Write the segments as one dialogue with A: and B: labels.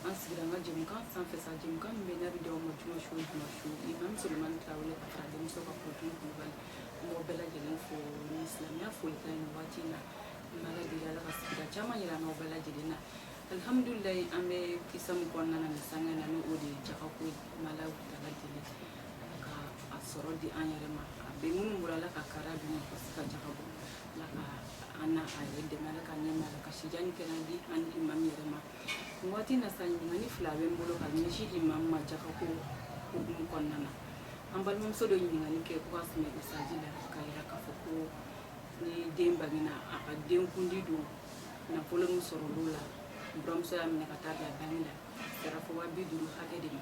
A: an sigira an ka jɛmukan sanfɛ sa jɛmukan min bɛ n'a bɛ di aw ma juma su o juma su imam sulemani tarawele ka fara denmuso ka kunnafoni kulubali an b'aw bɛɛ lajɛlen fo ni silamɛya folikan nin waati in na an b'ala deli ala ka sigida caman yira an n'aw bɛɛ lajɛlen na alihamudulilayi an bɛ kisa min kɔnɔna na nin sanga in na ni o de ye jagako ye an b'ala deli ka a sɔrɔ di an yɛrɛ ma a bɛ minnu bolo ala ka kara di ma ka se ka jaga bɔ ala ka an na a yɛrɛ dɛmɛ ala ka nɛma ala ka si jan ni kɛnɛya di an ni imam yɛrɛ ma nin waati na sa ɲininkali fila bɛ n bolo ka ɲɛsin imam ma jaga ko hukumu kɔnɔna na an balimamuso dɔ ɲininkali kɛ ko ka sɛmɛ mesaji la ka yira k'a fɔ ko ni den bangena a ka den kundi don nafolo min sɔrɔ olu la buranmuso y'a minɛ ka taa bila banki la sefa waa bi duuru hakɛ de ma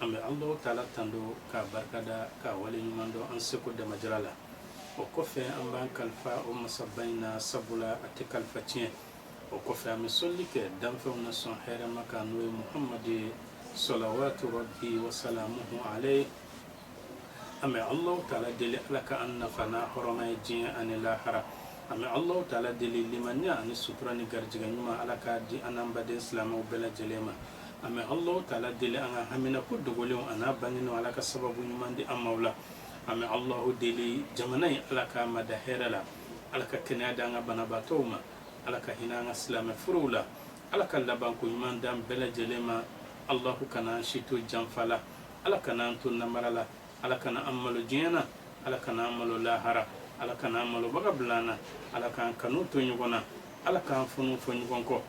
A: an bɛ alahu taala tando k'a barikada k'a wale ɲuman dɔn an seko damajira la o kɔfɛ an b'an kalifa o masaba in na sabula a tɛ kalifa tiɲɛ o kɔfɛ an bɛ soli kɛ danfɛnw na sɔn hɛrɛma kan n'o ye muhamadu ye salawatu rabi wasalamu ale an bɛ ala taala deli ala ka an nafa n'a hɔrɔma ye diɲɛ ani lahara an bɛ ala taala deli limaniya ani sutura ni garijɛgɛ ɲuman ala ka di an baden silamɛw bɛɛ lajɛlen ma an bɛ Alahu taala deli an ka haminako dogolenw ani n'a bangenenw Ala ka sababu ɲuman di an ma o la, an bɛ Alahu deli jamana in Ala k'a mada hɛrɛ la, Ala ka kɛnɛya di an ka banabaatɔw ma, Ala ka hinɛ an ka silamɛ furew la, Ala ka labanko ɲuman d'an bɛɛ lajɛlen ma, Alahu kana an si to janfa la, Ala kana an to namara la, Ala kana an malo diɲɛ na, Ala kana an malo lahara, Ala kana an malobaga bila an na, Ala k'an kanu to ɲɔgɔn na, Ala k'an funu fɔ ɲɔgɔn kɔ.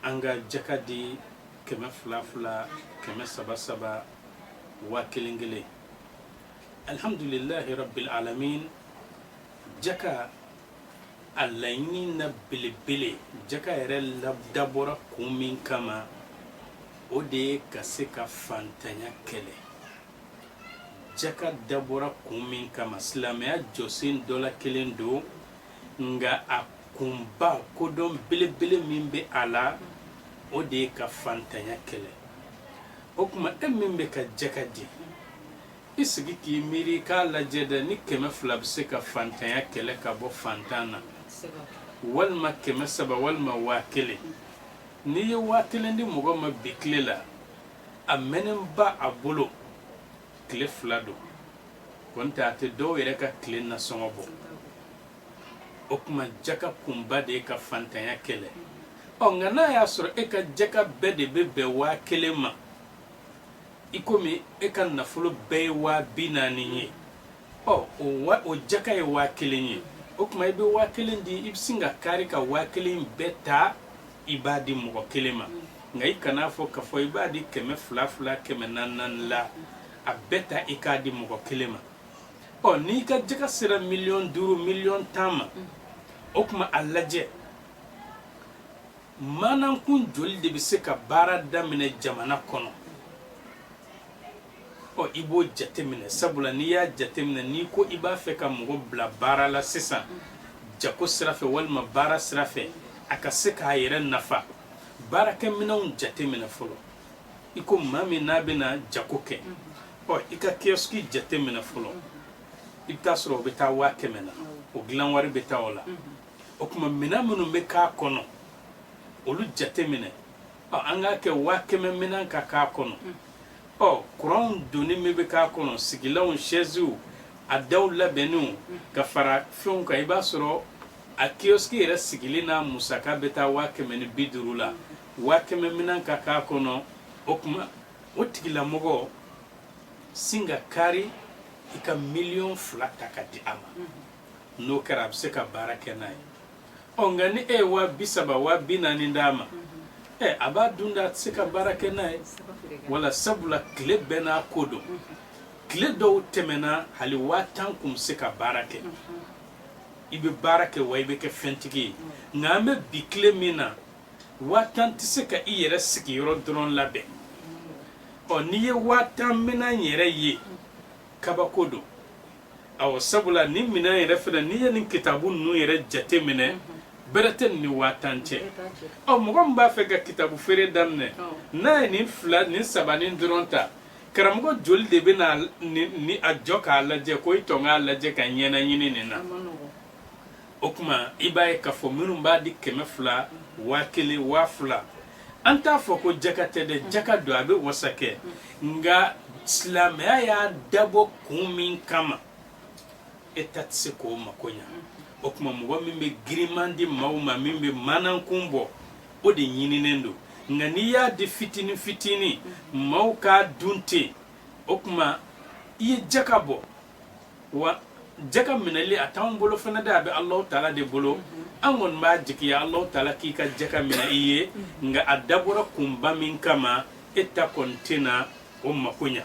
A: An ka jaka di kɛmɛ fila fila kɛmɛ saba saba waa kelen kelen alihamdulilahi rabil alamin jaka a laɲini na belebele jaka yɛrɛ dabɔra kun min kama o de ye ka se ka fantanya kɛlɛ jaka dabɔra kun min kama silamɛya jɔsen dɔ la kelen don nka a kunba kodɔn belebele min bɛ a la o de ye ka fantanya kɛlɛ o tuma e min bɛ ka jaka di i sigi k'i miiri k'a lajɛ dɛ ni kɛmɛ fila bɛ se ka fantanya kɛlɛ ka bɔ fantan na walima kɛmɛ saba walima waa kelen n'i ye waa kelen di mɔgɔ ma bi tile la a mɛɛnnenba a bolo tile fila don kɔni tɛ a tɛ dɔw yɛrɛ ka tile nasɔngɔ bɔ o tuma jaka kunba de ye ka fantanya kɛlɛ ɔ nka n'a y'a sɔrɔ e ka jaka bɛɛ de bɛ bɛn waa kelen ma i komi e ka nafolo bɛɛ ye waa bi naani ye ɔ o jaka ye waa kelen ye o tuma i bɛ waa kelen di i bɛ sin ka kari ka waa kelen bɛɛ ta i b'a di mɔgɔ kelen ma nka i kan'a fɔ k'a fɔ i b'a di kɛmɛ fila fila kɛmɛ naani naani la a bɛɛ ta i k'a di mɔgɔ kelen ma ɔ n'i ka jaka sera miliyɔn duuru miliyɔn tan ma o tuma a lajɛ manankun joli de bɛ se ka baara daminɛ jamana kɔnɔ ɔ i b'o jateminɛ sabula n'i y'a jateminɛ n'i ko i b'a fɛ ka mɔgɔ bila baara la sisan jako sira fɛ walima baara sira fɛ a ka se k'a yɛrɛ nafa baarakɛminɛnw jateminɛ fɔlɔ i ko maa min n'a bɛna jako kɛ ɔ i ka kiyɔsiki jate minɛ fɔlɔ i bɛ t'a sɔrɔ o bɛ taa waa kɛmɛ na o dilan wari bɛ taa o la o tuma minɛn minnu bɛ k'a kɔnɔ olu jate minɛ ɔ an k'a kɛ waa kɛmɛ minɛn ka k'a kɔnɔ ɔ kuranw donni min bɛ k'a kɔnɔ sigilanw sɛziw a daw labɛnniw ka fara fɛnw kan i b'a sɔrɔ a kiyɔsiki yɛrɛ sigili n'a musaka bɛ taa waa kɛmɛ ni bi duuru la waa kɛmɛ minɛn ka k'a kɔnɔ o tuma o tigilamɔgɔ sin ka kari i ka miliyɔn fila ta ka di a ma mm-hmm. n'o kɛra a bɛ se ka baara kɛ n'a ye ɔ nka ni e ye waa bi saba waa bi naani d'a ma mm-hmm. ɛ a b'a dun de a tɛ se ka baara kɛ n'a ye wala sabula tile bɛɛ n'a ko don mm-hmm. tile dɔw tɛmɛna hali waa tan kun bɛ se ka baara kɛ i bɛ baara kɛ wa i bɛ kɛ fɛntigi ye nka an bɛ bi tile min na waa tan tɛ se ka i yɛrɛ sigiyɔrɔ dɔrɔn labɛn ɔ n'i ye waa tan minɛn yɛrɛ ye kabako don awɔ sabula nin minɛn yɛrɛ fana n'i ye nin kitabu ninnu yɛrɛ jate minɛ bɛrɛ tɛ nin ni waa tan cɛ ɔ mɔgɔ min b'a fɛ ka kitabu feere daminɛ n'a ye nin fila nin saba nin dɔrɔn ta karamɔgɔ joli de bɛ na ni a jɔ k'a lajɛ ko i tɔ k'a lajɛ ka ɲɛnaɲini nin na o tuma i b'a ye k'a fɔ minnu b'a di kɛmɛ fila waa kelen waa fila an t'a fɔ ko jaka tɛ dɛ jaka don a bɛ wasa kɛ nka silamɛya y'a dabɔ kun min kama e ta tɛ se k'o mako ɲa o tuma mɔgɔ min bɛ giriman di maaw ma min bɛ manankun bɔ o de ɲininen don nka n'i y'a di fitinin fitinin maaw k'a dun ten o tuma i ye jaka bɔ wa jaka minɛli a t'anw bolo fana dɛ a bɛ alahu taala de bolo an kɔni b'a jigiya alahu taala k'i ka jaka minɛ i ye nka a dabɔra kunba min kama e ta kɔni tɛna o mako ɲa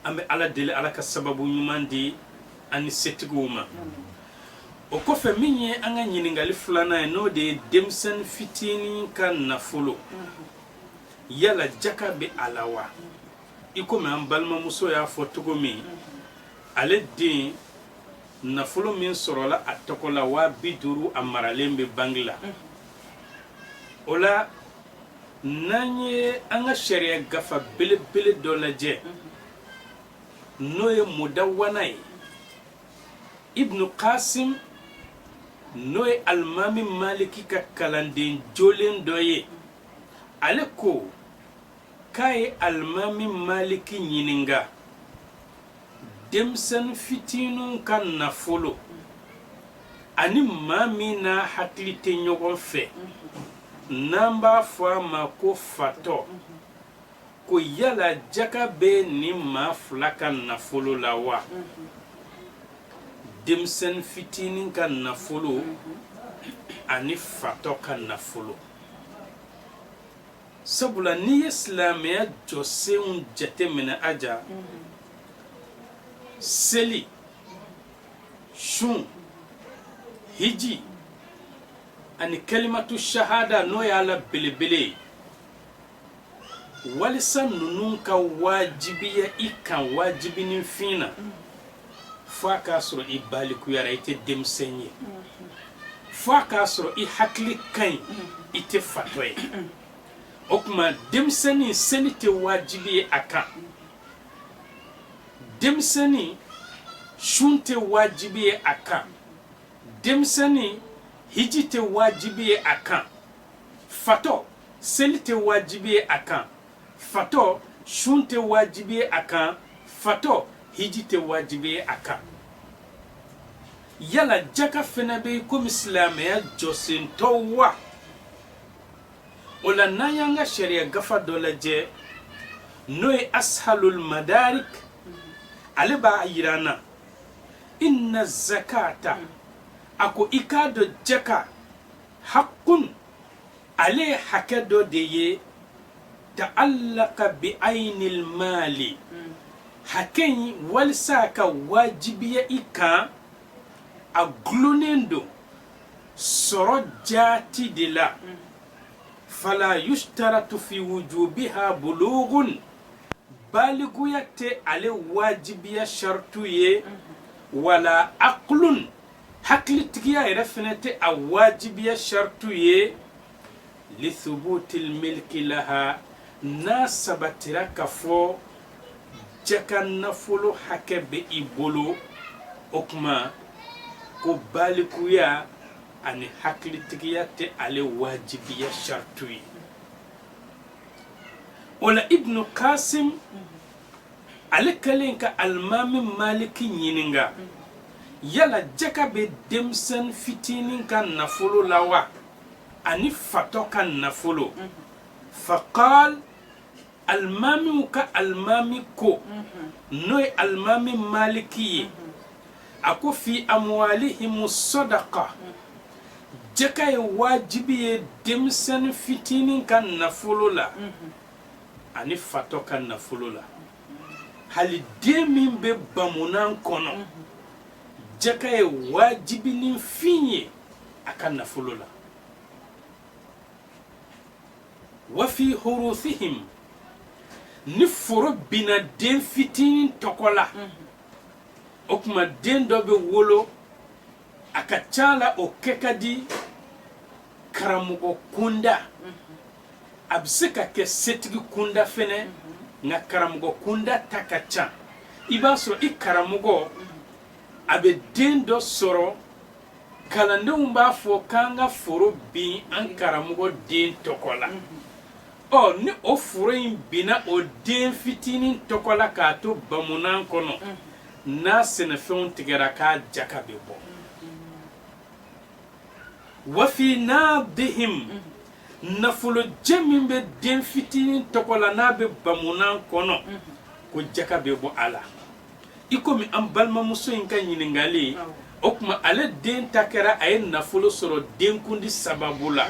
A: an bɛ ala deli ala ka sababu ɲuman di an ni setigiw ma o kɔfɛ min ye an ka ɲininkali filanan ye n'o de ye denmisɛnnin fitinin ka nafolo yala jaka bɛ a la wa i komi an balimamuso y'a fɔ cogo min ale den nafolo min sɔrɔla a tɔgɔ la waa bi duuru a maralen bɛ banki la o la n'an ye an ka sariya gafa belebele dɔ lajɛ n'o ye mudawana ye ibnu kasim n'o ye alimami maliki ka kalanden jolen dɔ ye ale ko k'a ye alimami maliki ɲininka denmisɛnnin fitininw ka nafolo ani maa min n'a hakili tɛ ɲɔgɔn fɛ n'an b'a fɔ a ma ko fatɔ ko yala jaka bɛ nin maa fila ka nafolo la wa denmisɛnnin fitinin ka nafolo ani fatɔ ka nafolo sabula n'i ye silamɛya jɔsenw jateminɛ aja seli sun hiji ani kalimatu shahada n'o y'a la belebele ye walisa ninnu ka wajibiya i kan wajibinin fin na fo a k'a sɔrɔ i balikuyara i tɛ denmisɛn ye fo a k'a sɔrɔ i hakili ka ɲi i tɛ fatɔ ye o tuma denmisɛnnin seli tɛ wajibi ye a kan denmisɛnnin sun tɛ wajibi ye a kan denmisɛnnin hiji tɛ wajibi ye a kan fatɔ seli tɛ wajibi ye a kan fatɔ sun tɛ wajibi ye a kan fatɔ hiji tɛ wajibi ye a kan yala jaka fana bɛ i komi silamɛya jɔsen tɔw wa o la n'an y'an ka sariya gafa dɔ lajɛ n'o ye ashalul madarik ale b'a yira an na inna zakata a ko i k'a dɔn jaka hakun ale ye hakɛ dɔ de ye ta'allaka bi ainil mali hmm. hakɛ in walisa ka wajibiya i kan a gulonnen don sɔrɔ jaati de la hmm. fala yushtaratu fi wujubiha bulughun baliguya tɛ ale wajibiya shartu ye hmm. wala aqlun hakilitigiya yɛrɛ fɛnɛ tɛ a wajibiya shartu ye li subutil milki laha n'a sabatira k'a fɔ jaka nafolo hakɛ bɛ i bolo o tuma ko balikuya ani hakilitigiya tɛ ale wajibiya shartu ye o la ibnu kasim ale kɛlen ka alimami maliki ɲininka yala jaka bɛ denmisɛn fitinin ka nafolo la wa ani fatɔ ka nafolo faqal alimamiw ka alimami ko n'o ye alimami maliki ye a ko fi amwalihim sadaqa jaka ye wajibi ye denmisɛn fitinin ka nafolo la ani fatɔ ka nafolo la hali den min bɛ bamunan kɔnɔ jaka ye wajibinin fin ye a ka nafolo la wafi hurusihim ni foro binna den fitinin tɔgɔ la o tuma den dɔ bɛ wolo a ka ca la o kɛ ka di karamɔgɔ kunda a bɛ se ka kɛ setigi kunda fɛnɛ nka karamɔgɔ kunda ta ka ca i b'a sɔrɔ i karamɔgɔ a bɛ den dɔ sɔrɔ kalandenw b'a fɔ k'an ka foro bin an karamɔgɔ den tɔgɔ la ɔ ni o foro in binna o den fitinin tɔgɔ la k'a to bamunan kɔnɔ n'a sɛnɛfɛnw tigɛra k'a jaka bɛ bɔ wafi naddihim nafolojɛ min bɛ den fitinin tɔgɔ la n'a bɛ bamunan kɔnɔ ko jaka bɛ bɔ a la i komi an balimamuso in ka ɲininkali o tuma ale den ta kɛra a ye nafolo sɔrɔ denkundi sababu la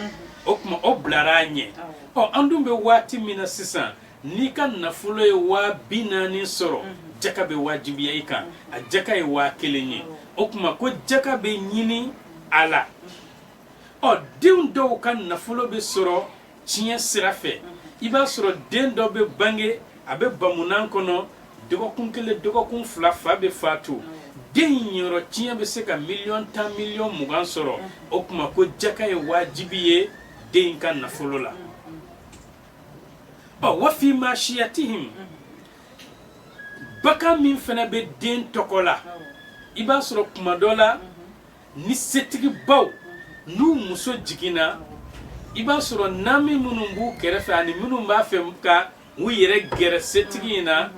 A: o tuma o bilara a ɲɛ ɔ an dun bɛ waati min na sisan n'i ka nafolo ye waa bi naani sɔrɔ jaka bɛ wajibiya i kan a jaka ye waa kelen ye o tuma ko jaka bɛ ɲini a la ɔ denw dɔw ka nafolo bɛ sɔrɔ tiɲɛ sira fɛ i b'a sɔrɔ den dɔ bɛ bange a bɛ bamunan kɔnɔ dɔgɔkun kelen dɔgɔkun fila fa bɛ faatu den niyɔrɔ tiɲɛ bɛ se ka miliyɔn tan miliyɔn mugan sɔrɔ o tuma ko jaka ye wajibi ye den ka nafolo la ɔ wafi masiyatihim bakan min fana bɛ den tɔgɔ la i b'a sɔrɔ kuma dɔ la Ni setigibaw n'u muso jiginna i b'a sɔrɔ naani minnu b'u kɛrɛfɛ ani minnu b'a fɛ ka u yɛrɛ gɛrɛ setigi in na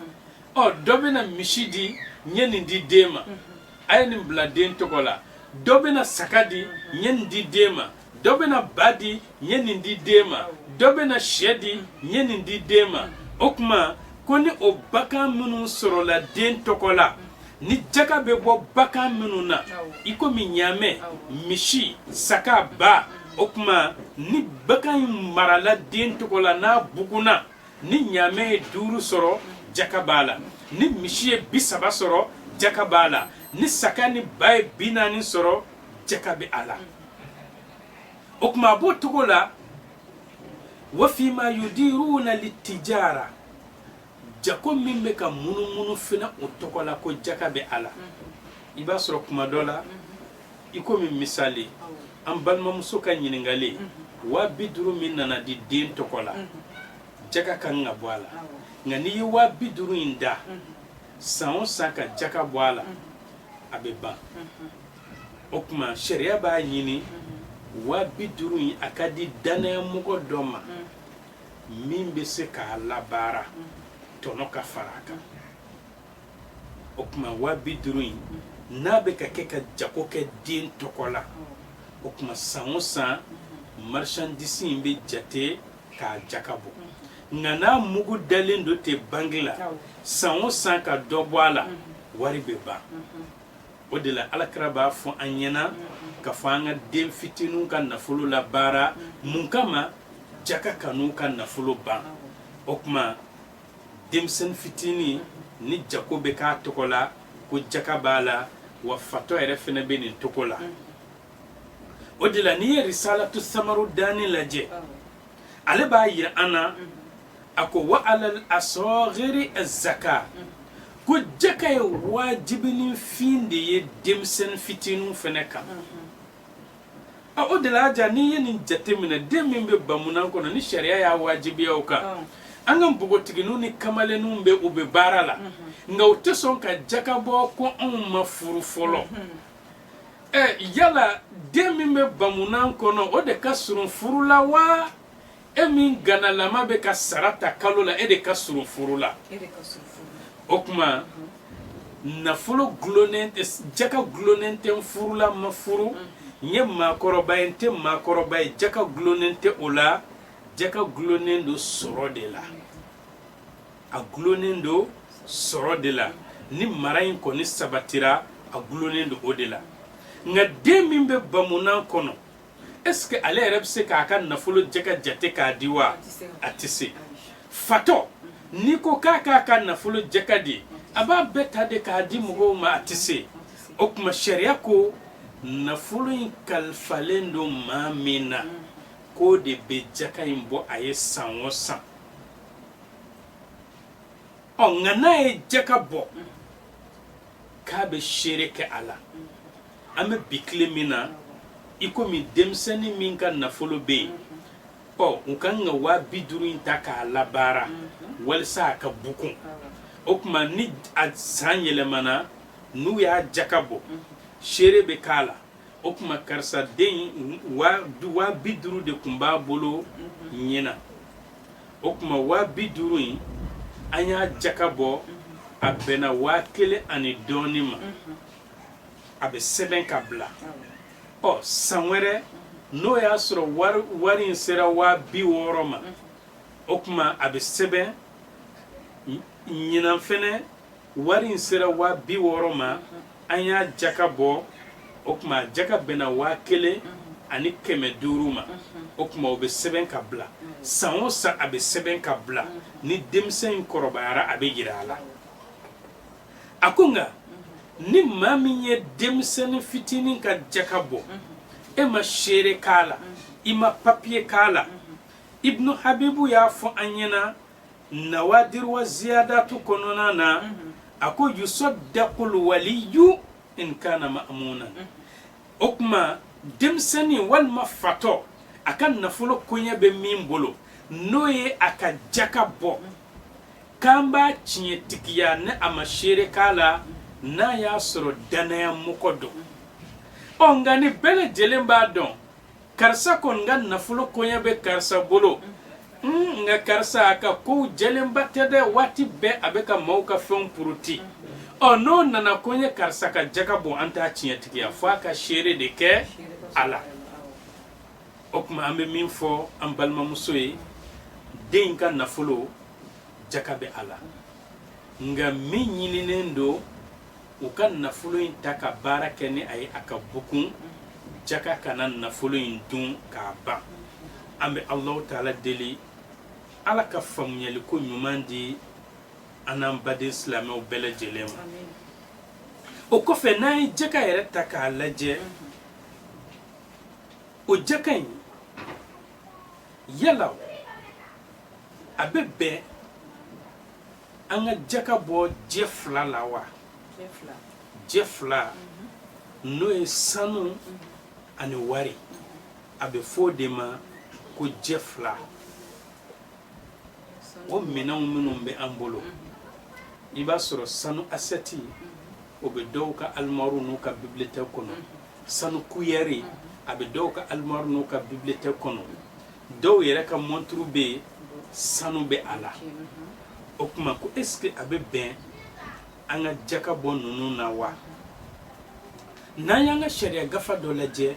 A: ɔ dɔ bɛna misi di n ye nin di den ma a ye nin bila den tɔgɔ la dɔ bɛna saga di n ye nin di den ma dɔ bɛna ba di n ye nin di den ma dɔ bɛna sɛ di n ye nin di den ma o tuma ko ni o bakan minnu sɔrɔla den tɔgɔ la ni jaka bɛ bɔ bakan minnu na i komi ɲaamɛ misi saka ba o tuma ni bakan in marala den tɔgɔ la n'a bugunna ni ɲaamɛ ye duuru sɔrɔ jaka b'a la ni misi ye bi saba sɔrɔ jaka b'a la ni saka ni ba ye bi naani sɔrɔ jaka bɛ a la o tuma a b'o cogo la wa fima yudiruna litijara jako min bɛ ka munumunu fana o tɔgɔ la ko jaka bɛ a la i b'a sɔrɔ kuma dɔ la i komi misali an balimamuso ka ɲininkali waa bi duuru min nana di den tɔgɔ la jaka ka kan ka bɔ a la nka n'i ye waa bi duuru in da san o san ka jaka bɔ a la a bɛ ban o tuma sariya b'a ɲini wa bi duuru in a ka di danayamɔgɔ dɔ ma min bɛ se k'a labaara tɔnɔ ka fara a kan o tuma wa bi duuru in n'a bɛ ka kɛ ka jago kɛ den tɔgɔ la o tuma san o san marchandise in bɛ jate k'a jaka bɔ nka n'a mugu dalen don ten banki la san o san ka dɔ bɔ a la wari bɛ ban. o de la Ala kira b'a fɔ an ɲɛna k'a fɔ an ka den fitininw ka nafolo labaara mun kama jaka kan'u ka nafolo ban o tuma denmisɛnnin fitinin ni jako bɛ k'a tɔgɔ la ko jaka b'a la wa fatɔ yɛrɛ fana bɛ nin cogo la o de la n'i ye risalatu samaru dani lajɛ ale b'a yira an na a ko wa a sɔɔgiri zaka ko jaka ye wajibifɛn de ye denmisɛnnin fitinin fana kan a o de la jaa n'i ye nin jate minɛ den min bɛ bamunan kɔnɔ ni sariya y'a wajibiya o kan an ka npogotigininw ni kamalenninw bɛ u bɛ baara la nka u tɛ sɔn ka jaka bɔ ko anw ma furu fɔlɔ yala den min bɛ bamunan kɔnɔ o de ka surun furu la wa e min ganalama bɛ ka sara ta kalo la e de ka surun furu la o tuma nafolo dulonnen tɛ jaka dulonnen tɛ n furula n ma furu n ye maakɔrɔba ye n tɛ maakɔrɔba ye jaka dulonnen tɛ o la jaka dulonnen don sɔrɔ de la a dulonnen don sɔrɔ de la ni mara in kɔni sabatira a dulonnen don o de la nka den min bɛ bamunan kɔnɔ Est-ce que ale yɛrɛ bɛ se k'a ka nafolo jaka jate k'a di wa a tɛ se fatɔ n'i ko k'a k'a ka nafolo jaka di a b'a bɛɛ ta de k'a di mɔgɔw ma a tɛ se o tuma sariya ko nafolo in kalifalen don maa min na k'o de bɛ jaka in bɔ a ye san o san ɔ nka n'a ye jaka bɔ k'a bɛ seere kɛ a la an bɛ bi tile min na i komi denmisɛnnin min ka nafolo bɛ yen ɔ u ka kan ka waa bi duuru in ta k'a labaara walasa a ka bukun o tuma ni a san yɛlɛmana n'u y'a jaka bɔ seere bɛ k'a la o tuma karisa den waa bi duuru de tun b'a bolo ɲinan o tuma waa bi duuru in an y'a jaka bɔ a bɛnna waa kelen ani dɔɔnin ma a bɛ sɛbɛn ka bila ɔ san wɛrɛ n'o y'a sɔrɔ wari wari in sera waa bi wɔɔrɔ ma o tuma a bɛ sɛbɛn ɲinan fɛnɛ wari in sera waa bi wɔɔrɔ ma an y'a jaka bɔ o tuma jaka bɛnna waa kelen ani kɛmɛ duuru ma o tuma o bɛ sɛbɛn ka bila san o san a bɛ sɛbɛn ka bila ni denmisɛn in kɔrɔbayara a bɛ jira a la a ko nka ni maa min ye denmisɛnnin fitinin ka jaka bɔ e ma seere k'a la i ma papiye k'a la ibnu habibu y'a fɔ an ɲɛna nawadir wa ziyadatu kɔnɔna na a ko yusaddaqul waliyu in kana ma'munan o tuma denmisɛnnin walima fatɔ a ka nafolo koɲɛ bɛ min bolo n'o ye a ka jaka bɔ k'an b'a tiɲɛtigiya ni a ma seere k'a la n'a y'a sɔrɔ dannaya mɔgɔ don ɔ nka ni bɛɛ lajɛlen b'a dɔn karisa kɔni ka nafolo koɲɛ bɛ karisa bolo hmm, nka karisa a ka kow jɛlenba tɛ dɛ waati bɛɛ a bɛ ka maaw ka fɛnw puruti ɔ n'o nana ko n ye karisa ka jaka bɔ an t'a tiɲɛtigiya fo a ka seere de kɛ a la o tuma an bɛ min fɔ an balimamuso ye den ka nafolo jaka bɛ a la nka min ɲininen don u ka nafolo in ta ka baara kɛ ni a ye a ka bukun jaka kana nafolo in dun k'a ban an bɛ alahu taala deli ala ka faamuyaliko ɲuman di an n'an baden silamɛw bɛɛ lajɛlen ma o kɔfɛ n'an ye jaka yɛrɛ ta k'a lajɛ o jaka in yala a bɛ bɛn an ka jaka bɔ jɛ fila la wa jɛ fila n'o ye sanu ani wari a bɛ fɔ o de ma ko jɛ fila o minɛnw minnu bɛ an bolo i b'a sɔrɔ sanu asɛti o bɛ dɔw ka alimaru n'u ka bibiliyotɛki kɔnɔ sanu kuyɛri a bɛ dɔw ka alimaru n'u ka bibiliyotɛki kɔnɔ dɔw yɛrɛ ka mɔnturu bɛ yen sanu bɛ a la o tuma ko esike a bɛ bɛn an ka jaka bɔ ninnu na wa n'an y'an ka sariya gafa dɔ lajɛ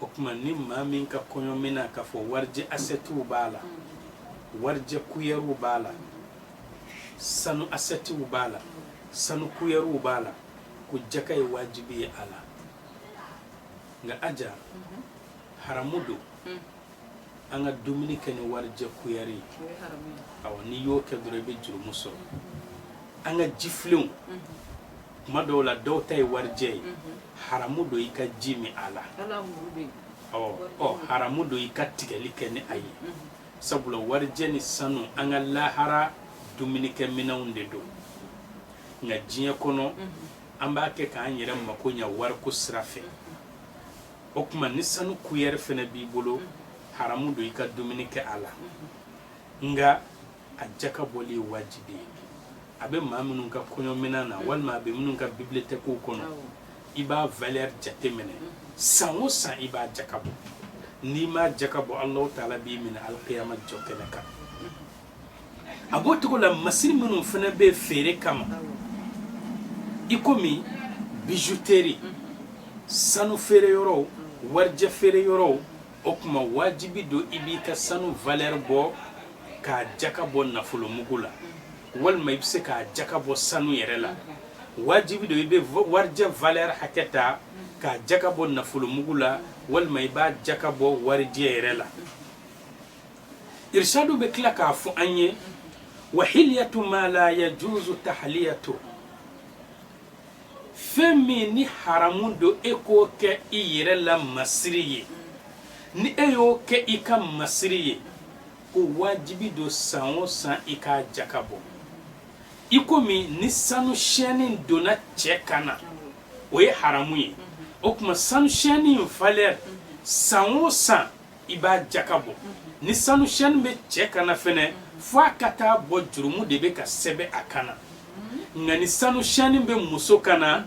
A: o tuma ni maa min ka kɔɲɔminɛn k'a fɔ warijɛ asɛtiw b'a la warijɛ kuyɛriw b'a la sanu asɛtiw b'a la sanu kuyɛriw b'a la ko jaka ye wajibi ye a la nka aja haramu don an ka dumuni kɛ ni warijɛ kuyɛri ye awɔ n'i y'o kɛ dɔrɔn i bɛ jurumu sɔrɔ an ka jifilenw tuma dɔw la dɔw ta ye warijɛ ye haramu don i ka ji min a la ɔ haramu don i ka tigɛli kɛ ni a ye sabula warijɛ ni sanu an ka lahara dumunikɛ minɛnw de don nka diɲɛ kɔnɔ an b'a kɛ k'an yɛrɛ mako ɲɛ wariko sira fɛ o tuma ni sanu kuyɛri fana b'i bolo haramu don i ka dumuni kɛ a la nka a jaka bɔli ye wajibi ye a bɛ maa minnu ka kɔɲɔminɛn na walima a bɛ minnu ka bibiliyotɛkiw kɔnɔ i b'a valeur jateminɛ san o san i b'a jaka bɔ n'i m'a jaka bɔ Alahu taala b'i minɛ alikiyama jɔ kɛnɛ kan a b'o cogo la masiri minnu fana bɛ feere kama i komi bijuteri sanu feere yɔrɔw warijɛ feere yɔrɔw o tuma wajibi don i b'i ka sanu valeur bɔ k'a jaka bɔ nafolomugu la walima i bɛ se k'a jaka bɔ sanu yɛrɛ la wajibi don i bɛ warijɛ valeur hakɛ ta k'a jaka bɔ nafolomugu la walima i b'a jaka bɔ warijɛ yɛrɛ la irshadu bɛ tila k'a fɔ an ye wa hiliyatu ma la yajuzu tahliyatu fɛn min ni haramu don e k'o kɛ i yɛrɛ la masiri ye ni e y'o kɛ i ka masiri ye ko wajibi don san o san i k'a jaka bɔ i komi ni sanu sɛni donna cɛ kan na o ye haramu ye o tuma sanu sɛni in valeur san o san i b'a jaka bɔ ni sanu sɛni bɛ cɛ kan na fɛnɛ fo a ka taa bɔ jurumu de bɛ ka sɛbɛn a kan na nka ni sanu sɛni bɛ muso kan na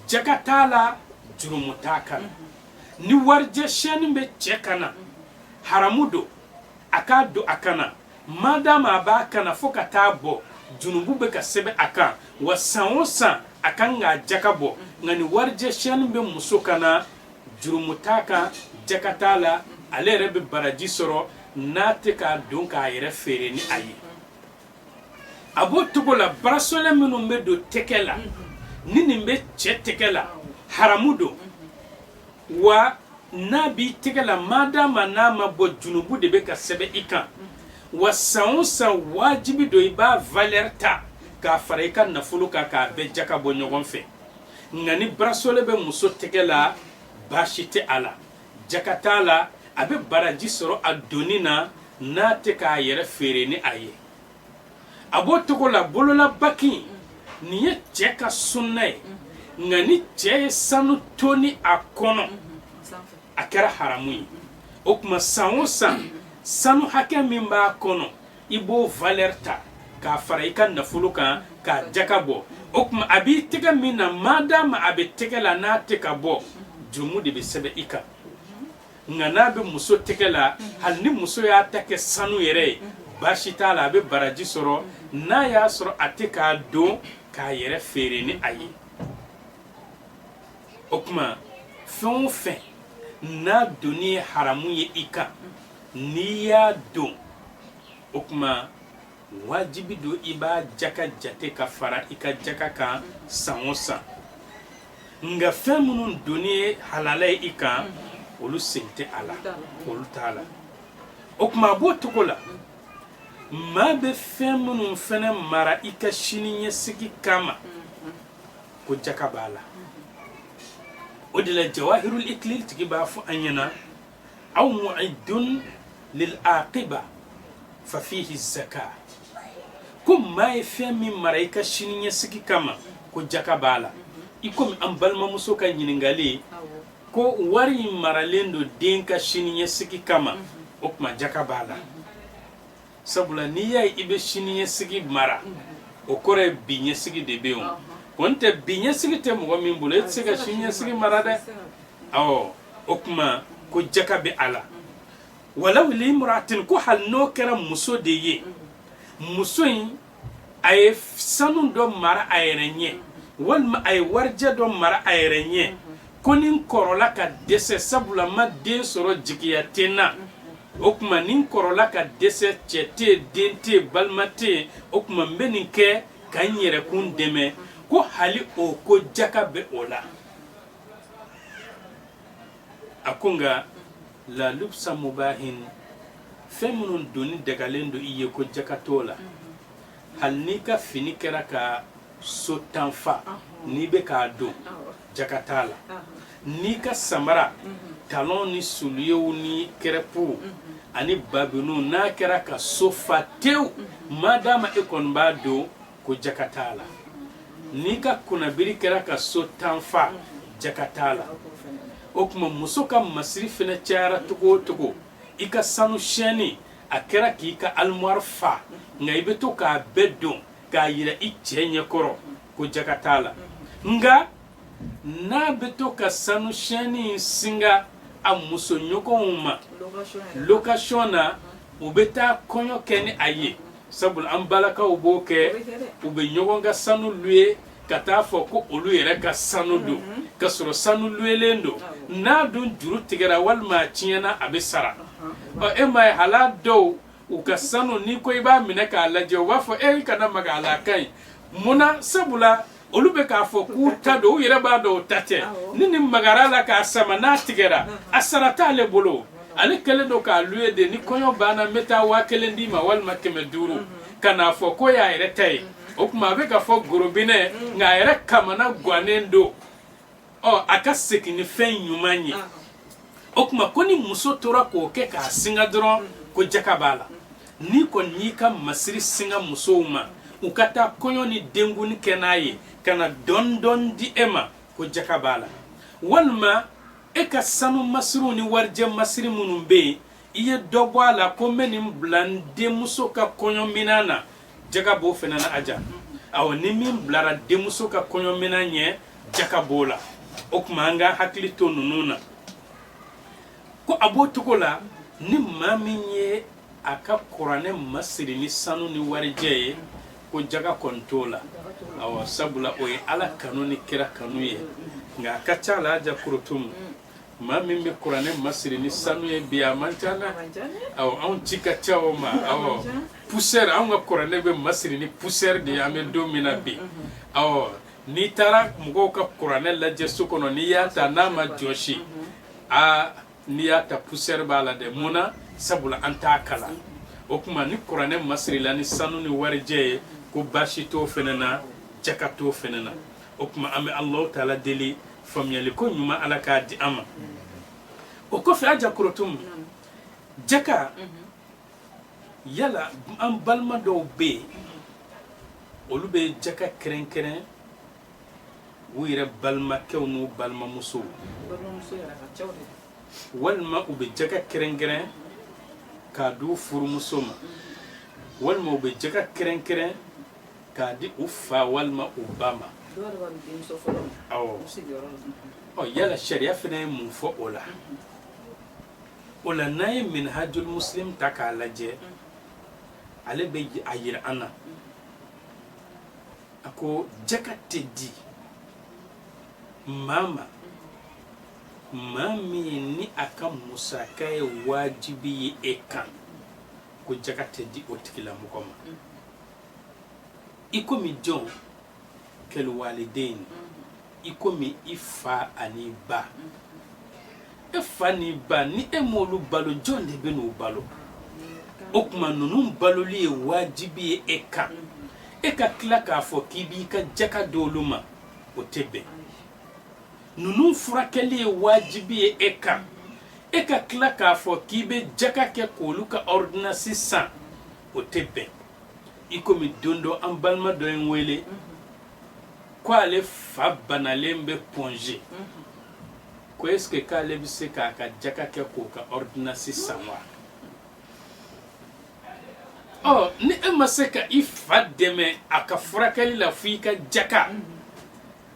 A: jaka t'a la jurumu t'a kan na ni warijɛ sɛni bɛ cɛ kan na haramu don a k'a don a kan na madama a b'a kan na fo ka taa bɔ junubu bɛ ka sɛbɛn a kan wa san o san a kan k'a jaka bɔ nka ni warijɛ sɛni bɛ muso kan na jurumu t'a kan jaka t'a la ale yɛrɛ bɛ baraji sɔrɔ n'a tɛ k'a don k'a yɛrɛ feere ni a ye a b'o cogo la barasɔlɛ minnu bɛ don tɛgɛ la ni nin bɛ cɛ tɛgɛ la haramu don wa n'a b'i tɛgɛ la madama n'a ma bɔ junubu de bɛ ka sɛbɛn i kan wa san o san wajibi don i b'a valeur ta k'a fara i ka nafolo kan k'a bɛɛ jaka bɔ ɲɔgɔn fɛ nka ni barasole bɛ muso tɛgɛ la baasi tɛ a la jaka t'a la a bɛ baraji sɔrɔ a donni na n'a tɛ k'a yɛrɛ feere ni a ye a b'o cogo la bololabagi nin ye cɛ ka sunna ye nka ni cɛ ye sanu toni a kɔnɔ a kɛra haramu ye o tuma san o san sanu hakɛ min b'a kɔnɔ i b'o valeur ta k'a fara i ka nafolo kan k'a jaka bɔ o tuma a b'i tɛgɛ min na madama a bɛ tɛgɛ la n'a tɛ ka bɔ jurumu de bɛ sɛbɛn i kan nka n'a bɛ muso tɛgɛ la hali ni muso y'a ta kɛ sanu yɛrɛ ye baasi t'a la a bɛ baraji sɔrɔ n'a y'a sɔrɔ a tɛ k'a don k'a yɛrɛ feere ni a ye o tuma fɛn o fɛn n'a donni ye haramu ye i kan n'i y'a don o tuma wajibi don i b'a jaka jate ka fara i ka jaka kan san o san nka fɛn minnu donni ye halala ye i kan olu sen tɛ a la olu t'a la o tuma a b'o cogo la maa bɛ fɛn minnu fana mara i ka sini ɲɛsigi kama ko jaka b'a la o de la jawahirul ikilil tigi b'a fɔ an ɲɛna aw mu'idun lil aqiba fa fihi zaka ko maa ye fɛn min mara i ka sini ɲɛsigi kama ko jaka b'a la i komi an balimamuso ka ɲininkali ye ko wari in maralen don den ka sini ɲɛsigi kama o tuma jaka b'a la sabula n'i y'a ye i bɛ sini ɲɛsigi mara o kɔrɔ ye bi ɲɛsigi de bɛ yen o kɔni tɛ bi ɲɛsigi tɛ mɔgɔ min bolo e tɛ se ka sini ɲɛsigi mara dɛ awɔ o tuma ko jaka bɛ a la walaw li imra'atin ko hali n'o kɛra muso de ye muso in a ye sanu dɔ mara a yɛrɛ ɲɛ walima a ye warijɛ dɔ mara a yɛrɛ ɲɛ ko ni n kɔrɔla ka dɛsɛ sabula n ma den sɔrɔ jigiya tɛ n na o tuma ni n kɔrɔla ka dɛsɛ cɛ tɛ den tɛ balima tɛ o tuma n bɛ nin kɛ ka n yɛrɛkun dɛmɛ ko hali o ko jaka bɛ o la a ko nka la lubsa mubahin fɛn minnu donni dagalen don i ye ko jaka t'o la hali n'i ka fini kɛra ka so tan fa n'i bɛ k'a don jaka t'a la n'i ka samara talon ni suliyew ni kɛrɛpuw ani babiniw n'a kɛra ka so fa tew ma dama e kɔni b'a don ko jaka t'a la n'i ka kunnabiri kɛra ka so tan fa jaka t'a la o tuma muso ka masiri fana cayara cogo o cogo i ka sanu siyɛnni a kɛra k'i ka alimwari fa nka i bɛ to k'a bɛɛ don k'a yira i cɛ ɲɛkɔrɔ ko jaka t'a la nka n'a bɛ to ka sanu siyɛnni in singa a musoɲɔgɔnw ma location na u bɛ taa kɔɲɔ kɛ ni a ye sabula an balakaw b'o kɛ u bɛ ɲɔgɔn ka sanu luye ka t'a fɔ ko olu yɛrɛ ka sanu don mhm. ka sɔrɔ sanu luyelen don n'a dun juru tigɛra walima a tiɲɛna a bɛ sara ɔ e m'a ye hala dɔw u ka sanu n'i ko i b'a minɛ k'a lajɛ u b'a fɔ e kana maga a la a ka ɲi mun na sabula olu bɛ k'a fɔ k'u ta don u yɛrɛ b'a dɔn o ta tɛ ni n'i magara a la k'a sama n'a tigɛra a sara t'ale bolo ale kɛlen don k'a luye de ni kɔɲɔ banna n bɛ taa waa kelen d'i ma walima kɛmɛ duuru ka n'a fɔ k'o y'a yɛrɛ ta ye o tuma a bɛ k'a fɔ gorobinɛ nka a yɛrɛ kamana gannen don ɔ a ka segin ni fɛn ɲuman ye o tuma ko ni muso tora k'o kɛ k'a singa dɔrɔn ko jaka b'a la n'i kɔni y'i ka masiri singa musow ma u ka taa kɔɲɔ ni denkundi kɛ n'a ye ka na dɔɔni dɔɔni di e ma ko jaka b'a la walima e ka sanu masiriw ni warijɛ masiri minnu bɛ yen i ye dɔ bɔ a la ko n bɛ nin bila n denmuso ka kɔɲɔminan na jaka b'o fana na aja awɔ ni min bilara denmuso ka kɔɲɔminan ɲɛ jaka b'o la o tuma an k'an hakili to ninnu na ko a b'o cogo la ni maa min ye a ka kuranɛ masiri ni sanu ni warijɛ ye ko jaka kɔni t'o la awɔ sabula o ye ala kanu ni kira kanu ye nka a ka ca la aja korotum maa min bɛ kuranɛ masiri ni sanu ye bi a man ca dɛ awɔ anw ci ka ca o ma awɔ poussière anw ka kuranɛ bɛ masiri ni poussière de ye an bɛ don min na bi awɔ n'i taara mɔgɔw ka kuranɛ lajɛ so kɔnɔ n'i y'a ta n'a ma jɔsi aa n'i y'a ta poussière b'a la dɛ mun na sabula an t'a kalan o tuma ni kuranɛ masirila ni sanu ni warijɛ ye ko baasi t'o fɛnɛ na jaka t'o fɛnɛ na o tuma an bɛ alahu taala deli faamuyali ko ɲuman ala k'a di an ma o kɔfɛ aja korotum jaka yala an balima dɔw bɛ yen olu bɛ jaka kɛrɛnkɛrɛn u yɛrɛ balimakɛw n'u balimamusow walima u bɛ jaka kɛrɛnkɛrɛn k'a di u furumuso ma walima u bɛ jaka kɛrɛnkɛrɛn k'a di u fa walima u ba ma yala sariya fana ye mun fɔ o la o la n'an ye minhajul muslim ta k'a lajɛ ale bɛ a yira an na a ko jaka tɛ di maa ma maa min ni a ka musaka ye wajibi ye e kan ko jaka tɛ di o tigilamɔgɔ ma i komi jɔn kal walidayni i komi i fa an'i ba e fa n'i ba ni e m'olu balo jɔn de bɛ n'u balo o tuma ninnu baloli ye wajibi ye e kan e ka tila k'a fɔ k'i b'i ka jaka di olu ma o tɛ bɛn ninnu furakɛli ye wajibi ye e kan e ka tila k'a fɔ k'i bɛ jaka kɛ k'olu ka ordonnance san o tɛ bɛn i komi don dɔ an balima dɔ ye n wele ko ale fa banalen bɛ point g ko est ce que k'ale bɛ se k'a ka jaka kɛ k'o ka ordonnance san wa ɔ ni e ma se ka i fa dɛmɛ a ka furakɛli la fo i ka jaka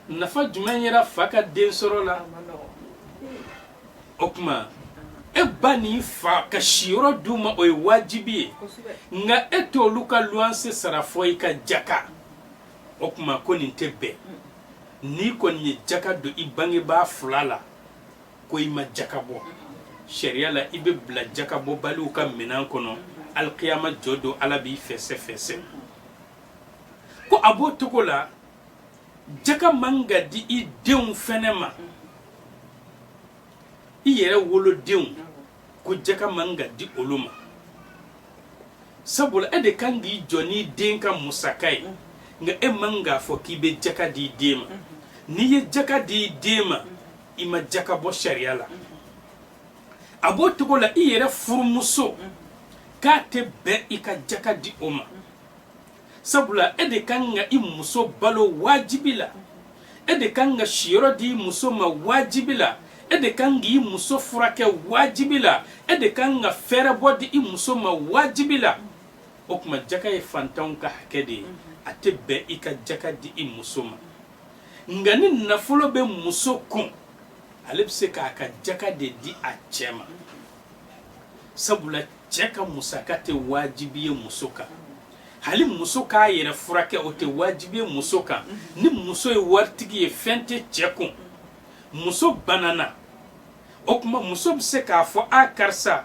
A: nafa jumɛn yera fa ka den sɔrɔ la o tuma e ba ni i fa ka siyɔrɔ d'u ma o ye wajibi ye nka e t'olu ka luwanse sara fɔ i ka jaka o tuma ko nin tɛ bɛn n'i kɔni ye jaka don i bangebaa fila la ko i ma jaka bɔ sariya la i bɛ bila jakabɔbaliw ka minɛn kɔnɔ alikiyama jɔ don ala b'i fɛsɛfɛsɛ ko a b'o cogo la jaka man ka di i denw fɛnɛ ma i yɛrɛ wolodenw ko jaka man ka di olu ma sabula e de kan k'i jɔ n'i den ka musaka ye nka e man k'a fɔ k'i bɛ jaka di i den ma n'i ye jaka di i den ma i ma jaka bɔ sariya la a b'o cogo la i yɛrɛ furumuso k'a tɛ bɛn i ka jaka di o ma sabula e de ka kan ka i muso balo wajibi la e de ka kan ka siyɔrɔ di i muso ma wajibi la e de ka kan k'i muso furakɛ wajibi la e de ka kan ka fɛɛrɛbɔ di i muso ma wajibi la o tuma jaka ye fantanw ka hakɛ de ye a tɛ bɛn i ka jaka di i muso ma nka ni nafolo bɛ muso kun ale bɛ se k'a ka jaka de di a cɛ ma sabula cɛ ka musaka tɛ wajibi ye muso kan hali muso k'a yɛrɛ furakɛ o tɛ wajibi ye muso kan ni muso ye waritigi ye fɛn tɛ cɛ kun muso banana o tuma muso bɛ se k'a fɔ a karisa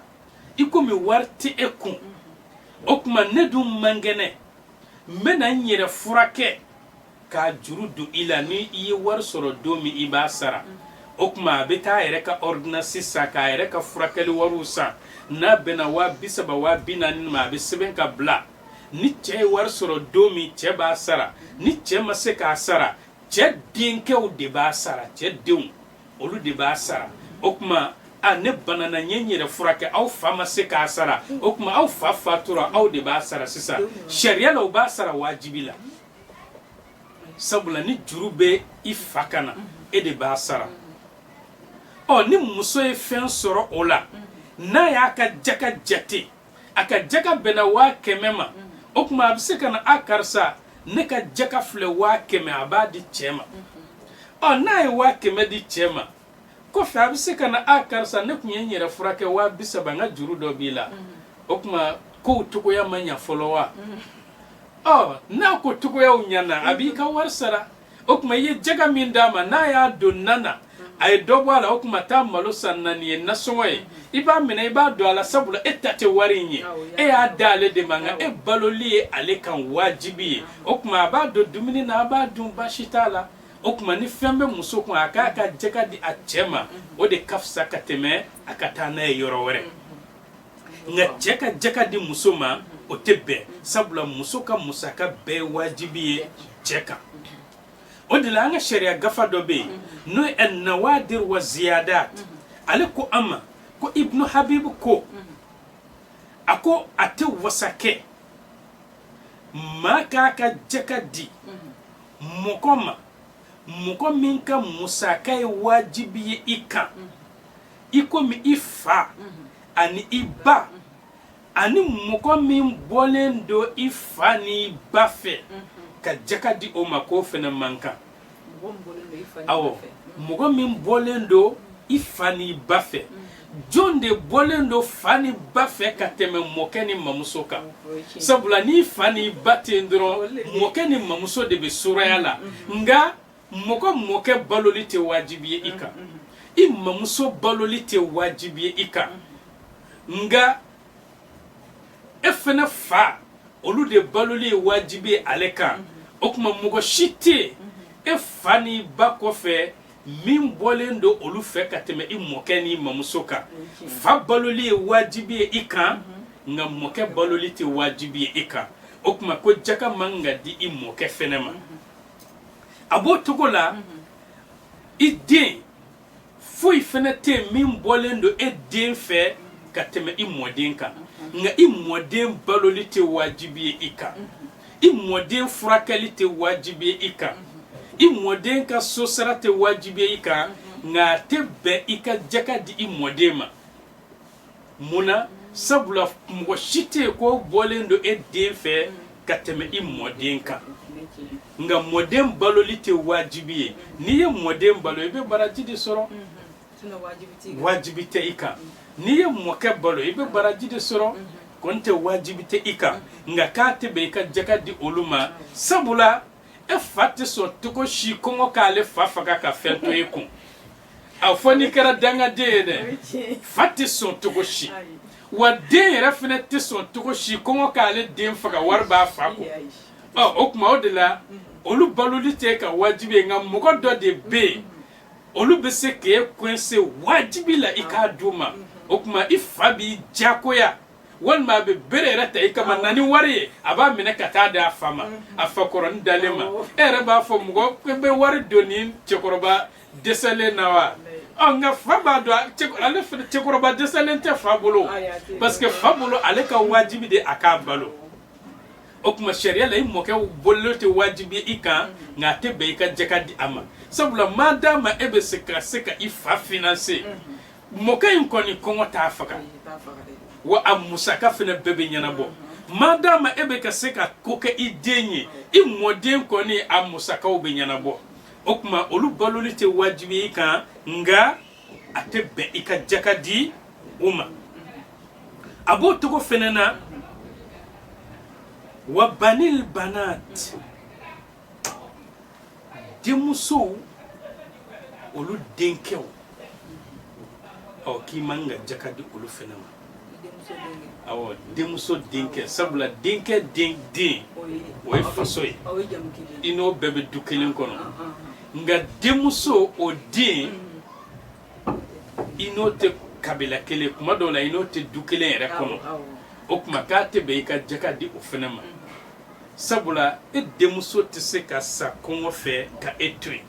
A: i komi wari tɛ e kun o tuma ne dun man kɛnɛ n bɛna n yɛrɛ furakɛ K'a juru don i la ni i ye wari sɔrɔ don min i b'a sara o tuma a bɛ taa a yɛrɛ ka ɔridinansi san k'a yɛrɛ ka furakɛli wari san n'a bɛnna waa bi saba waa bi naani ma a bɛ sɛbɛn ka bila ni cɛ ye wari sɔrɔ don min cɛ b'a sara ni cɛ ma se k'a sara cɛ denkɛw de b'a sara cɛ denw olu de b'a sara o tuma a ne banana n ye n yɛrɛ furakɛ aw fa ma se k'a sara o tuma aw fa fatura aw de b'a sara sisan sariya la u b'a sara wajibi la sabula ni juru bɛ i fa kan na e de b'a sara ɔ ni muso ye fɛn sɔrɔ o la n'a y'a ka jaka jate a ka jaka bɛnna waa kɛmɛ ma o tuma a bɛ se ka na a karisa ne ka jaka filɛ waa kɛmɛ a b'a di cɛ ma ɔ n'a ye waa kɛmɛ di cɛ ma kɔfɛ a bɛ se ka na a ah, karisa ne tun ye n yɛrɛ furakɛ waa bi saba n ka juru dɔ b'i la mm-hmm. o tuma kow cogoya ma ɲa fɔlɔ wa mm-hmm. ɔ n'a ko cogoyaw ɲana a b'i ka wari sara o tuma i ye jaka min d'a ma n'a y'a don nan na mm-hmm. a ye dɔ bɔ a la o tuma a taa malo san naani ye nasɔngɔ ye i b'a minɛ i b'a don a la sabula e ta tɛ wari in ye e y'a d'ale de ma nka e baloli ye ale kan wajibi ye o tuma a b'a don dumuni na a b'a dun baasi t'a la o tuma ni fɛn bɛ muso kun a k'a ka jaka di a cɛ ma o de ka fisa ka tɛmɛ a ka taa n'a ye yɔrɔ wɛrɛ nka cɛ ka jaka di muso ma o tɛ bɛn sabula muso ka musaka bɛɛ wajibi ye cɛ kan o de la an ka sariya gafa dɔ bɛ yen n'o ye nawadir wa ziyadat ale ko an ma ko ibnu habibu ko a ko a tɛ wasa kɛ maa k'a ka jaka di mɔgɔ ma mɔgɔ min ka musaka ye wajibi ye i kan i komi i fa ani i ba ani mɔgɔ min bɔlen don i fa ni i ba fɛ ka jaka di o ma k'o fana man kan awɔ mɔgɔ min bɔlen don i fa ni i ba fɛ mm. jɔn de bɔlen don fa ni ba fɛ ka tɛmɛ mɔkɛ ni mamuso kan sabula ni fa ni ba tɛ yen dɔrɔn mɔkɛ ni mamuso de bɛ suraya la nka mɔgɔ mɔkɛ baloli tɛ wajibi ye i kan i mamuso baloli tɛ wajibi ye i kan nka e fana fa olu de baloli ye wajibi ye ale kan o tuma mɔgɔ si tɛ yen e fa ni ba kɔfɛ min bɔlen don olu fɛ ka tɛmɛ i mɔkɛ ni mamuso kan fa baloli ye wajibi ye i kan nka mɔkɛ baloli tɛ wajibi ye i kan o tuma ko jaka man ka di i mɔkɛ fɛnɛ ma a b'o cogo la i den foyi fɛnɛ tɛ yen min bɔlen don e den fɛ ka tɛmɛ i mɔden kan nka i mɔden baloli tɛ wajibi ye i kan i mɔden furakɛli tɛ wajibi ye i kan i mɔden ka so sara tɛ wajibi ye i kan nka a tɛ bɛn i ka jaka di i mɔden ma mun na sabula mɔgɔ si tɛ yen k'o bɔlen don e den fɛ ka tɛmɛ i mɔden kan nka mɔden baloli tɛ wajibi ye n'i ye mɔden balo i bɛ baraji de sɔrɔ wajibi tɛ i kan n'i ye mɔkɛ balo i bɛ baraji de sɔrɔ kɔni tɛ wajibi tɛ i kan nka k'a tɛ bɛn i ka jaka di olu ma sabula e fa tɛ sɔn cogo si kɔngɔ k'ale fa faga ka fɛn to e kun a fo n'i kɛra dangaden ye dɛ fa tɛ sɔn cogo si wa den yɛrɛ fana tɛ sɔn cogo si kɔngɔ k'ale den faga wari b'a fa kun ɔ o tuma o de la olu baloli t'e ka wajibi ye nka mɔgɔ dɔ de bɛ yen olu bɛ se k'e coincer wajibi la i k'a di u ma o tuma i fa b'i jakoya walima a bɛ bere yɛrɛ ta i kama na ni wari ye a b'a minɛ ka taa di a fa ma a fa kɔrɔnin dalen ma e yɛrɛ b'a fɔ mɔgɔ bɛ wari don nin cɛkɔrɔba dɛsɛlen na wa nka fa b'a dɔn ale cɛkɔrɔba dɛsɛlen tɛ fa bolo parce que fa bolo ale ka wajibi de a k'a balo o tuma sariya la i mɔkɛ baloli tɛ wajibi ye i kan nka a tɛ bɛn i ka jaka di a ma sabula maa dama e bɛ ka se ka i fa finanse mɔkɛ in kɔni kɔngɔ t'a faga wa a musaka fana bɛɛ bɛ ɲɛnabɔ maa dama e bɛ ka se ka ko kɛ i den ye i mɔden kɔni a musakaw bɛ ɲɛnabɔ o tuma olu baloli tɛ wajibi ye i kan nka a tɛ bɛn i ka jaka di u ma a b'o cogo fɛnɛ na wa banil banat denmusow olu denkɛw ɔ k'i man ka jaka di olu fɛnɛ ma denmuso denkɛ sabula denkɛ den den o ye faso ye i n'o bɛɛ bɛ du kelen kɔnɔ nka denmuso o den i n'o tɛ kabila kelen kuma dɔw la i n'o tɛ du kelen yɛrɛ kɔnɔ o tuma k'a tɛ bɛn i ka jaka di o fana ma sabula e denmuso tɛ se ka sa kɔngɔ fɛ ka e to yen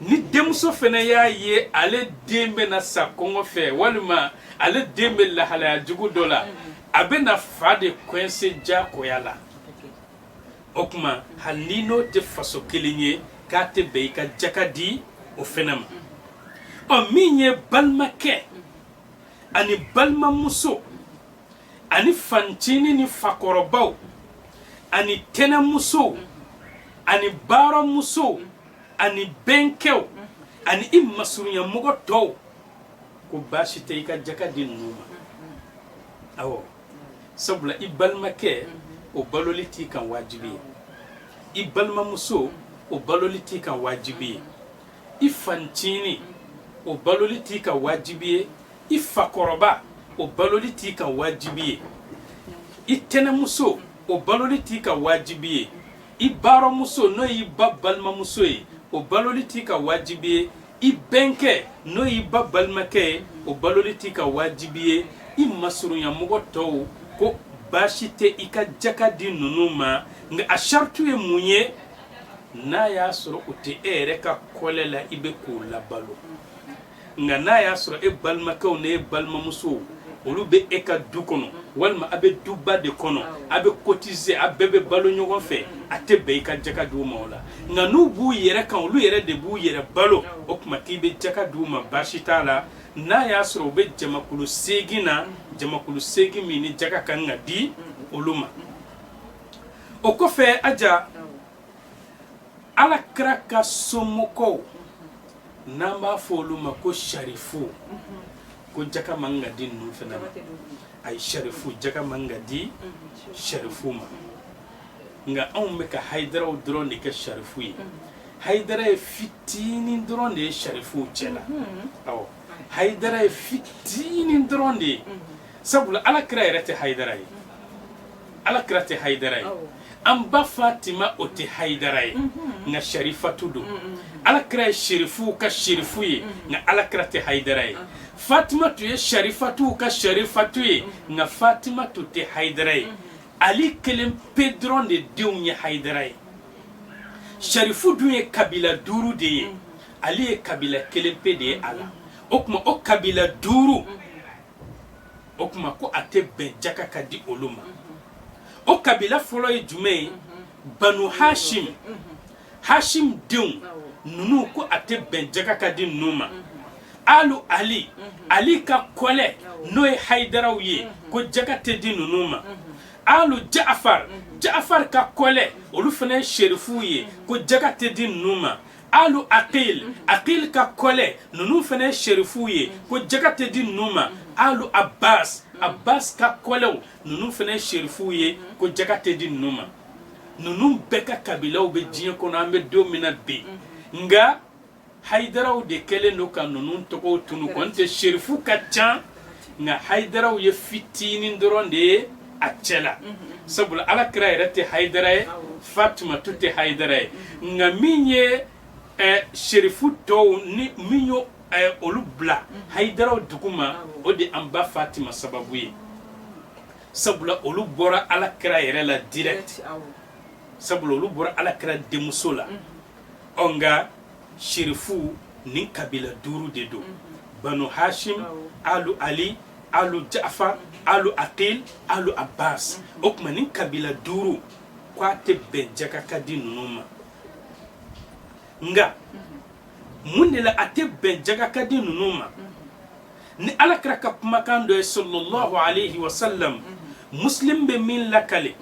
A: ni denmuso fana y'a ye ale den bɛ na sa kɔngɔ fɛ walima ale den bɛ lahalaya jugu dɔ la a bɛ na fa de kuwɛnse jagoya la o tuma hali n'i n'o tɛ faso kelen ye k'a tɛ bɛn i ka jaka di o fana ma ɔ min ye balimakɛ ani balimamuso ani fanincinin ni fakɔrɔbaw ani tɛnɛmusow ani barɔmusow ani bɛnkɛw ani i masurunyamɔgɔ tɔw ko baasi tɛ i ka jaka di ninnu ma awɔ sabula i balimakɛ o baloli t'i kan wajibi ye i balimamuso o baloli t'i kan wajibi ye i fanincinin o baloli t'i kan wajibi ye i fakɔrɔba o baloli t'i kan wajibi ye i tɛnɛmuso o baloli t'i kan wajibi ye i barɔmuso n'o y'i ba balimamuso ye o baloli t'i kan wajibi ye i bɛnkɛ n'o y'i ba balimakɛ ye o baloli t'i kan wajibi ye i masurunyamɔgɔ tɔw ko baasi tɛ i ka jaka di ninnu ma nka a sharutu ye mun ye n'a y'a sɔrɔ u tɛ e yɛrɛ ka kɔlɛ la i bɛ k'o labalo nka n'a y'a sɔrɔ e balimakɛw ni e balimamusow olu bɛ e ka du kɔnɔ walima a bɛ duba de kɔnɔ a bɛ kotise a bɛɛ bɛ balo ɲɔgɔn fɛ a tɛ bɛn i ka jaka d'u ma o la nka n'u b'u yɛrɛ kan olu yɛrɛ de b'u yɛrɛ balo o tuma k'i bɛ jaka d'u ma baasi t'a la n'a y'a sɔrɔ u bɛ jamakulu seegin na jamakulu seegin min ni jaka ka kan ka di olu ma o kɔfɛ a ja ala kira ka somɔgɔw n'an b'a fɔ olu ma ko sarifu ko jaka man ka di ninnu fana ma ayi sarifu jaka man ka di sarifu ma nka anw bɛ ka hayidaraw dɔrɔn de kɛ sarifu ye hayidara ye fitinin dɔrɔn de ye sarifuw cɛ la awɔ hayidara ye fitinin dɔrɔn de ye sabula ala kira yɛrɛ tɛ hayidara ye ala kira tɛ hayidara ye an ba fatima o tɛ hayidara ye mm-hmm. nka sharifatu don mm-hmm. ala kira ye sherifu ka sherifu ye mm-hmm. nka ala kira tɛ hayidara ye fatima tun ye sharifatu ka sharifatu ye nka fatima tun tɛ hayidara ye ali kelen pe dɔrɔn de denw ye hayidara ye sharifu dun ye kabila duuru de ye ali ye kabila kelen pe de ye a la o tuma o kabila duuru o tuma ko a tɛ bɛn jaka ka di olu ma o kabila fɔlɔ ye jumɛn ye banu hashim hashim denw ninnu ko a tɛ bɛn jaka ka di ninnu ma alu ali ali ka kɔlɛ n'o ye hayidaraw ye ko jaka tɛ di ninnu ma alu jafar jafar ka kɔlɛ olu fana ye sherifuw ye ko jaka tɛ di ninnu ma alu aqil mhm. aqil ka kɔlɛ ninnu fana ye sherifuw ye mhm. ko jaka tɛ di ninnu ma mhm. alu abbas abbas ka kɔlɛw ninnu fana ye sherifuw ye ko jaka tɛ di ninnu ma ninnu bɛɛ ka kabilaw bɛ diɲɛ kɔnɔ an bɛ don min na bi nka hayidaraw de kɛlen don ka ninnu tɔgɔw tunun ko n'o tɛ sherifu ka ca nka hayidaraw ye fitinin dɔrɔn de ye a cɛ la sabula ala kira yɛrɛ tɛ hayidara ye fatima tun tɛ hayidara ye nka min ye eh, serifu tɔw ni min ye eh, olu bila hayidaraw duguma o de an ba fatima sababu ye sabula olu bɔra ala kira yɛrɛ la direct sabula olu bɔra ala kira denmuso la ɔ nka sherifu nin kabila duuru de don banu hashim alu ali alu jafar alu aqil alu abbas o tuma nin kabila duuru ko a tɛ bɛn jaka ka di ninnu ma nka mun de la a tɛ bɛn jaka ka di ninnu ma nin ala kira ka kumakan dɔ ye sallallahu alaihi wasallam muslim bɛ min lakale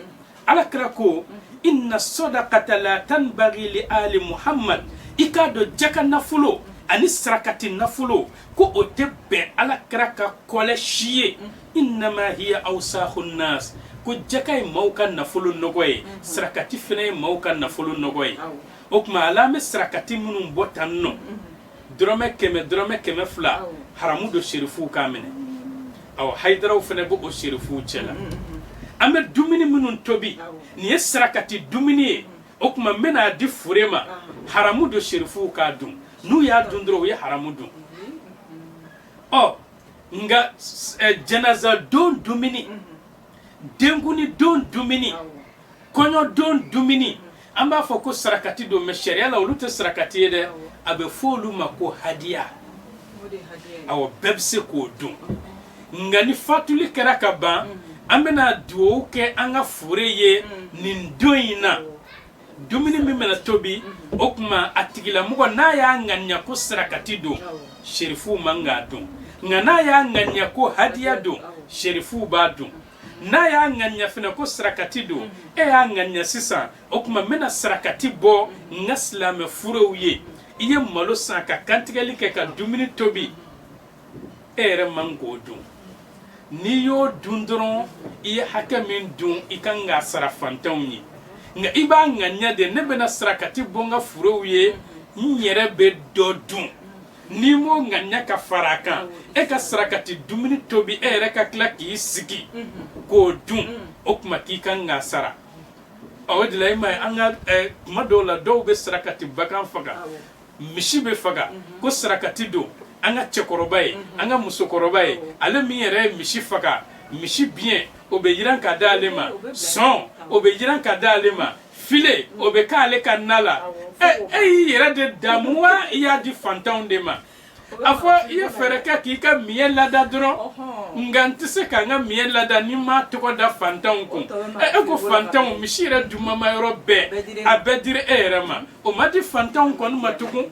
A: ala kira ko inna sadaqata la tanbaghi li ali muhammad i k'a dɔn jaka nafolo ani sarakati nafolo ko o tɛ bɛn ala kira ka kɔlɛ si ye innama hiya awsakhu nas ko jaka ye maaw ka nafolo nɔgɔ ye sarakati fana ye maaw ka nafolo nɔgɔ ye o tuma hali an bɛ sarakati minnu bɔ tan nɔ dɔrɔmɛ kɛmɛ dɔrɔmɛ kɛmɛ fila Awɔ. haramu don serifuw k'a minɛ awɔ hayidaraw fana b'o serifuw cɛ la an bɛ dumuni minnu tobi Awɔ. nin ye sarakati dumuni ye o tuma n bɛna a di fure ma haramu don serifuw k'a dun n'u y'a dun dɔrɔn u ye haramu dun ɔ nka s- ɛ, janaza don dumuni denkuni don dumuni kɔɲɔ don dumuni an b'a fɔ ko sarakati don mɛ sariya la olu tɛ sarakati ye dɛ a bɛ fɔ olu ma ko hadiya aw bɛɛ bɛ se k'o dun nka ni fatuli kɛra ka ban an bɛna dugawu kɛ an ka fure ye nin don in na dumuni min bɛna tobi o tuma a tigilamɔgɔ n'a y'a ŋaniya ko sarakati don serifuw man k'a dun nka n'a y'a ŋaniya ko hadiya don serifuw b'a dun n'a y'a ŋaniya fana ko sarakati don e y'a ŋaniya sisan o tuma n bɛna sarakati bɔ n ka silamɛ furew ye i ye malo san ka kantigɛli kɛ ka dumuni tobi e yɛrɛ man k'o dun n'i y'o dun dɔrɔn i ye hakɛ min dun i kan k'a sara fantanw ye nka i b'a ŋaniya de ne bɛna sarakati bɔ n ka furew ye n yɛrɛ bɛ dɔ dun n'i m'o ŋaniya ka fara a kan e ka sarakati dumuni tobi e yɛrɛ ka tila k'i sigi k'o dun o tuma k'i kan k'a sara o de la i m'a ye an ka eh, tuma dɔw la dɔw bɛ sarakati bagan faga misi bɛ faga ko sarakati don an ka cɛkɔrɔba ye an ka musokɔrɔba ye ale min yɛrɛ ye misi faga misi biyɛn o bɛ jiran ka di ale ma sɔn o bɛ jiran ka di ale ma file o bɛ kɛ ale ka na la e y'i yɛrɛ de daamu wa i y'a di fantanw de ma a fɔ i ye fɛɛrɛ kɛ k'i ka miɲɛ lada dɔrɔn nka n tɛ se ka n ka miɲɛ lada ni n m'a tɔgɔ da fantanw kun ɛ e ko fantanw misi yɛrɛ dumanma yɔrɔ bɛɛ a bɛɛ dira e yɛrɛ ma o ma di fantanw kɔni ma tugun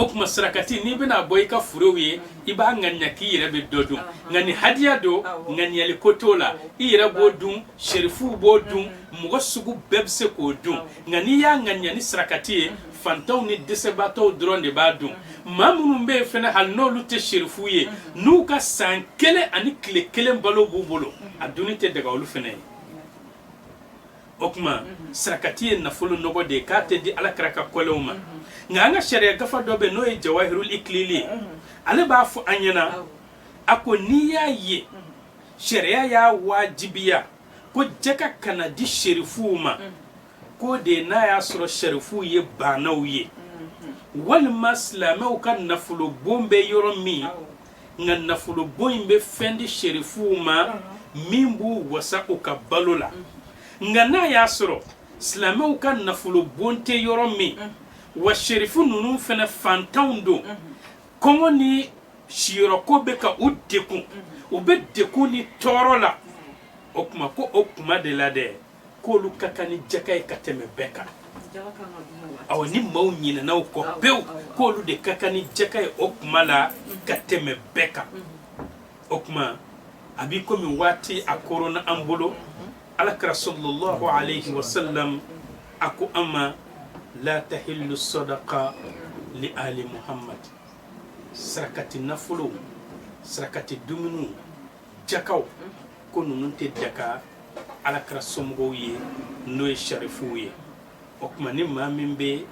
A: o tuma sarakati n'i bɛna a bɔ i ka furew ye i b'a ŋaniya k'i yɛrɛ bɛ dɔ dun nka ni hadiya don ŋaniyali ko t'o la i yɛrɛ b'o dun serifuw b'o dun mɔgɔ sugu bɛɛ bɛ se k'o dun nka n'i y'a ŋaniya ni sarakati ye fantanw ni dɛsɛbaatɔw dɔrɔn de b'a dun maa minnu bɛ yen fana hali n'olu tɛ serifuw ye n'u ka san kelen ani tile kelen balo b'u bolo a dunni tɛ daga olu fana ye o tuma sarakati ye nafolo nɔgɔ de ye k'a tɛ di ala kira ka kɔlɛw ma nka an ka sariya gafa dɔ bɛ n'o ye jawahirul ikilili ye ale b'a fɔ an ɲɛna a ko n'i y'a ye sariya y'a wajibiya ko jaka kana di serifuw ma mm. k'o de ye n'a y'a sɔrɔ serifuw ye baanaw ye mm-hmm. walima silamɛw ka nafolobon bɛ yɔrɔ min nka nafolobon in bɛ fɛn di serifuw ma mm-hmm. min b'u wasa u ka balo la mm-hmm. nka n'a y'a sɔrɔ silamɛw ka nafolobon tɛ yɔrɔ min wa serifu ninnu fana fantanw don kɔngɔ ni siyɔrɔko bɛ ka u dɛgun u bɛ dɛgun ni tɔɔrɔ la o tuma ko o kuma de la dɛ k'olu ka kan ni jaka ye ka tɛmɛ bɛɛ kan awa ni maaw ɲinɛna u kɔ pewu k'olu de ka kan ni jaka ye o kuma la ka tɛmɛ bɛɛ kan o tuma a b'i komi waati a koronna an bolo alakira sallallahu alayhi wa sallam a ko an ma la tahillu sadaqa li ali muhammad sarakati nafolo sarakati dumuniw jakaw ko ninnu tɛ daga alakira somɔgɔw ye n'o ye sarifuw ye o tuma ni maa min bɛ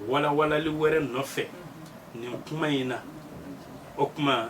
A: walawalali wɛrɛ nɔfɛ nin kuma in na o tuma